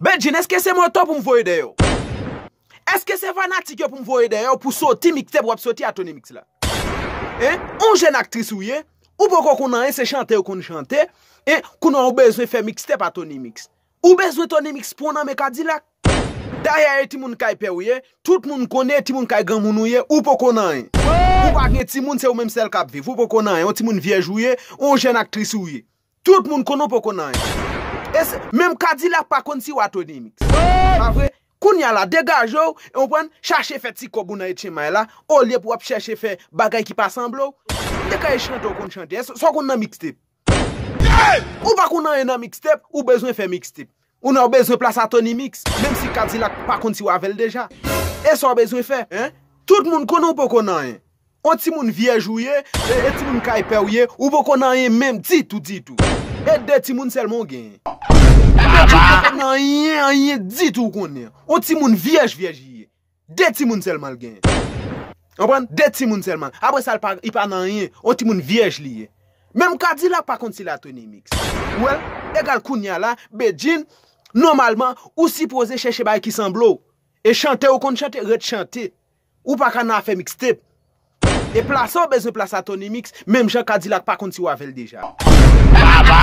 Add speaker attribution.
Speaker 1: Bedjine eske se moto poum voye deyò. Eske se fanatik yo poum voye deyò pou soti mixtape wap soti a tonymix la hein on jèn aktris ou ye ou poko konn anyen se chante ou konn chante hein kounya ou bezwen fè mixtape a tonymix ou bezwen tonymix pwan nan men kadilak dayè e timoun kay pè ou ye tout moun konnen e timoun kay granmoun ou ye ou poko nan anyen ou pa gen timoun se ou menm sèl kap viv ou poko nan anyen on timoun vyèj ou ye on jèn aktris ou ye Tout moun konn ou poko nan anyen. E se, menm kadilak pa konn si wa Tony mix. Pa vre? Kounya la degajew, ou konprann, chache fè ti kòb ou nan etchenmay la, olye pou wap chèche fè bagay ki pa sanble w. Te ka e chante ou konn chante. Eske sa w konn nan mixtape? Ou pa konn anyen nan mixtape, ou bezwen fè mixtape. Ou nan bezwen plas a Tony Mix, menm si Kadilak pa konn si w avè l deja. E sa w bezwen fè, hein? Tout moun konnen w poko nan anyen. On timoun vyèj ou ye, e timoun kay pè w ye, ou poko nan anyen menm ditou ditou. E de timoun sèlman w genyen. Ou poko nan anyen anyen ditou w konnen. On timoun vyèj vyèj li ye. De timoun sèlman l genyen. Ou konprann? De timoun sèlman. Apre sa l pa, li pa nan anyen. On timoun vyèj li ye. Menm Kadilak pa konn si l a Tony Mix. Ou wè l? Egal kounye a la, Bedjine, nòmalman, ou sipoze chèche bagay ki sanble w. E chante ou konn chante, ret chante. Ou pa ka nan afè mixtape. E plase ou bezwen plase a Tony Mix, menm jan Kadilak pa konn si ou avè l deja. Baba!